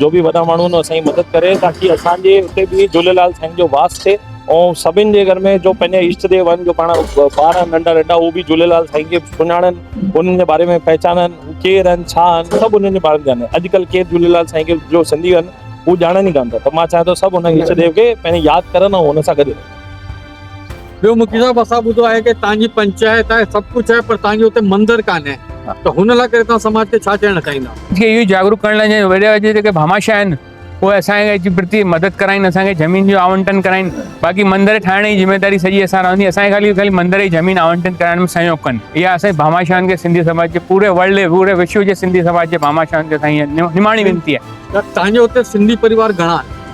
جو به وڏا ماڻهو آهن اسانجي مدد ڪري تاڪي اسانجي اتي به جهوليلال سائين جو واس ٿئي ۽ سڀن جي گهر ۾ جو پنهنجا اشٽ ديو آهن جو پاڻ ٻار آهن ننڍا ننڍا اهو به جهوليلال سائين کي سڃاڻن انهن جي باري ۾ پهچانن ڪير آهن ڇا آهن سڀ انهن جي باري ۾ ڄاڻن اڄڪلهه ڪير جهوليلال سائين کي جو سنڌي آهن اهو ڄاڻن ئي ڪانه ٿا ته مان چاهيان ٿو سڀ انهن اشٽ ديو کي پنهنجي ياد ڪرن ۽ ان سان گڏ ٻيو مکي صاحب اسان ٻڌو آهي ته توهان جي پنچائت آهي سڀ ڪجهه آهي پر توهان جو اتي مندر ڪانهي ته هن لاء ڪري توهان سماج کي ڇا چوڻ چاهيندا جي اهو جاگروڪ ڪرڻ لاء جي وڏا جي جيڪي ڀاماشا آهن اهي اسان کي اچي پرتي مدد ڪرائين اسان کي زمين جو آونٽن ڪرائين باقي مندر ٺاهڻ جي ذميواري سڄي اسان رهندي اسان کي خالي خالي مندر جي زمين آونٽن ڪرائڻ ۾ سهيوگ ڪن اها اسان جي ڀاماشائن کي سنڌي سماج جي پوري ورلڊ پوري وشو جي سنڌي سماج جي ڀاماشائن کي اسان جي نماڻي وينتي آهي توهان جي اتي سنڌي پريوار گهڻا آهن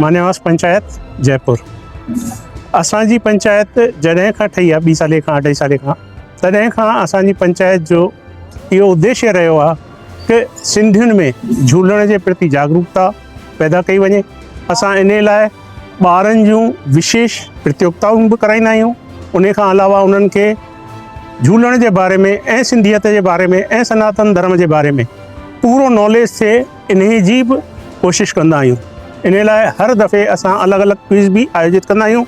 مانيواس پنچائت جئپور اسان جي پنچائت جڏهن کان ٺهي آهي ٻي سالي کان اڍائي سالي کان تڏهن کان اسان جي پنچائت جو اهو اديشي رهيو آهي ته سنڌين ۾ جهولڻ جي پرتي جاگروڪتا پيدا ڪئي وڃي اسان ان لاء ٻارن جون وشيش پرتيوگتائون به ڪرائيندا آهيون ان کان علاوه انهن کي جهولڻ جي باري ۾ ۽ سنڌيت جي باري ۾ ۽ سناتن ڌرم جي باري ۾ پورو ناليج ٿئي انهي جي به ڪوشش ڪندا آهيون. انهي لاء هر دفعي اسان الڳ الڳ ڪوئز به آيوجت ڪندا آهيون.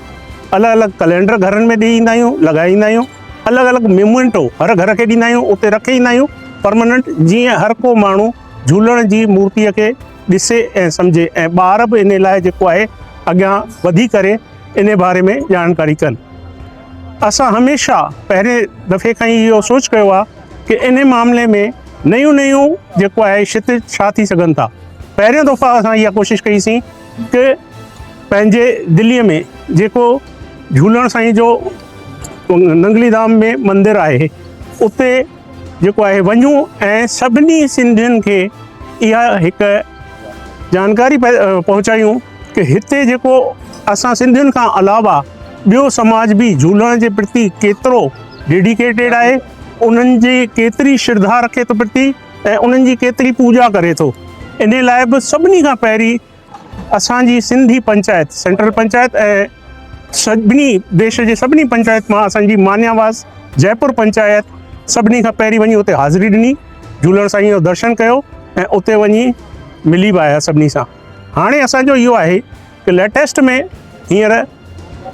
الڳ الڳ ڪلينڊر گهرن ۾ ڏيئي ايندا آهيون، لڳائي ايندا آهيون. الڳ الڳ ميمونٽو هر گهر کي ڏيندا آهيون، اتي رکي ايندا آهيون پرماننٽ جيئن هر ڪو ماڻهو جهولڻ جي مورتيء کي ڏسي ۽ سمجهي ۽ ٻار به انهي لاء جيڪو آهي اڳيان وڌي ڪري انهي باري ۾ ڄاڻڪاري ڪن. اسان هميشه پهرين دفعي کان ئي اهو سوچ ڪيو آهي. ڪي انهي معاملي ۾ نيون نيون جيڪو آهي شت ڇا ٿي سگهن ٿا پهريون دفعا اسان اها ڪوشش ڪئي سين ڪي پنهنجي دلي ۾ جيڪو جهولڻ سائين جو ننگلي ڌام ۾ مندر آهي اتي جيڪو آهي وڃون ۽ سڀني سنڌين کي اها هڪ جانڪاري پهچايون ته هتي جيڪو اسان سنڌين کان علاوه ٻيو سماج به جهولڻ جي پرتي ڪيترو ڊيڊيڪيٽيڊ آهي، انهن جي ڪيتري شرڌا رکي ٿو پرتي ۽ انهن جي ڪيتري پوڄا ڪري ٿو، انهي لاء به سڀني کان پهرين اسان جي سنڌي پنچائت، سينٽرل پنچائت ۽ سڀني ديش جي سڀني پنچائت مان اسان جي مانياواز جئپور پنچائت سڀني کان پهرين وڃي اتي حاضري ڏني، جهولڻ سائينء جو درشن ڪيو ۽ اتي وڃي ملي به آيا سڀني سان. هاڻي اسان جو اهو آهي ته ليٽيسٽ ۾ هينئر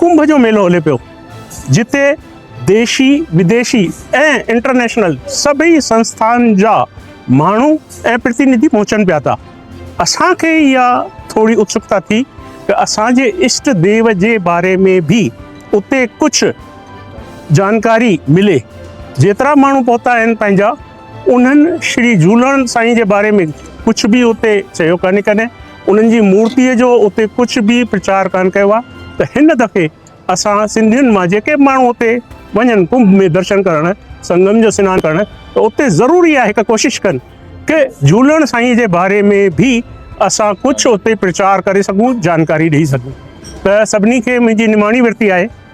ڪنڀ جو ميلو هلي پيو جتي ديشي وديشي ۽ انٽرنيشنل سڀئي سنسٿائن جا ماڻهو ۽ پرتينڌي پهچن پيا ٿا اسان کي اها ٿوري اتسڪتا ٿي ته اسان جي اشٽ ديو جي باري ۾ به اتي ڪجهه جانڪاري ملي جيترا ماڻهو پهتا آهن پنهنجا انهن شري جهولڻ سائين جي باري ۾ ڪجهه به اتي چيو ڪانهي ڪڏهن انهن جي مورتي جو اتي ڪجهه به پرچار ڪانه ڪيو آهي ته هن دفعي اسان سنڌين مان جيڪي ماڻهو اتي وڃن ڪنڀ ۾ درشن ڪرڻ سنگم جو سنان ڪرڻ ته اتي ضروري آهي هڪ ڪوشش ڪن ڪه جهولڻ سائين جي باري ۾ به اسان ڪجهه اتي پرچار ڪري سگهون جانڪاري ڏئي سگهون ته سڀني کي منهنجي نماڻي ورتي آهي.